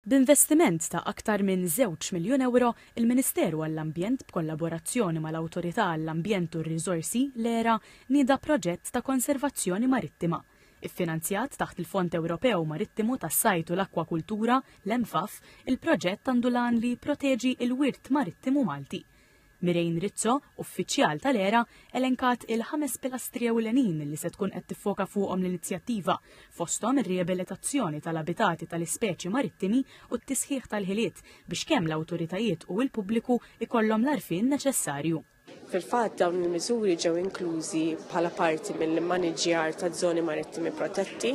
B'investiment ta' aktar minn żewġ miljun ewro, il-Ministeru għall-Ambjent b'kollaborazzjoni mal-Awtorità għall-Ambjent u r-Riżorsi, l-ERA, nieda proġett ta' konservazzjoni marittima. Iffinanzjat taħt il-Fond Ewropew Marittimu tas-Sajd u l-Akkwakultura, l-EMFAF, il-proġett għandu l-għan li jipproteġi l-wirt marittimu Malti. Mireen Rizzo, uffiċjal tal-ERA, elenkat il-ħames pilastri ewlenin li se tkun qed tiffoka fuqhom l-inizjattiva, fosthom ir-riabilitazzjoni tal-abitati tal-ispeċi marittimi u t-tisħiħ tal-ħiliet biex kemm l-awtoritajiet u l-pubbliku jkollhom l-għarfien neċessarju. Fil-fatt, dawn il-miżuri ġew inklużi bħala parti mill-immaniġġjar taż-żoni marittimi protetti,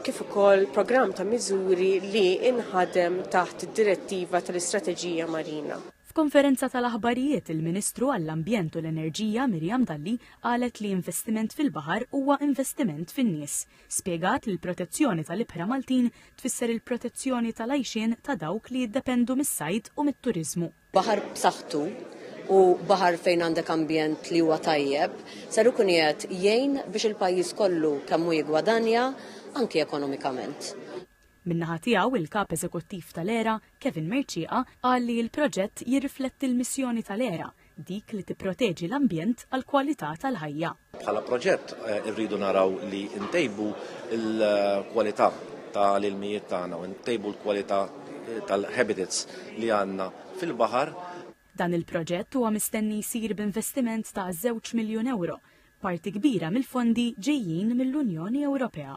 kif ukoll programm ta' miżuri li inħadem taħt id-direttiva tal-istrateġija marina. F'konferenza tal-aħbarijiet, il-Ministru għall-Ambjent u l-Enerġija Miriam Dalli qalet li investiment fil-baħar huwa investiment fin-nies. Spjegat li l-protezzjoni tal-ibħra Maltin tfisser il-protezzjoni tal-għajxien ta' dawk li jiddependu mis-sajd u mit-turiżmu. Baħar b'saħħtu u baħar fejn għandek ambjent li huwa tajjeb ser ikun qiegħed jgħin biex il-pajjiż kollu kemm hu jiggwadanja anki ekonomikament. Min-naħa tiegħu, il-Kap Eżekuttiv tal-ERA, Kevin Mercieqa, qal li l-proġett jirrifletti l-missjoni tal-ERA, dik li tipproteġi l-ambjent għall-kwalità tal-ħajja. Bħala proġett irridu naraw li ntejbu l-kwalità tal-ilmijiet tagħna u ntejbu l-kwalità tal-habitats li għandna fil-baħar. Dan il-proġett huwa mistenni jsir b'investiment ta' żewġ miljun ewro, parti kbira mill-fondi ġejjin mill-Unjoni Ewropea.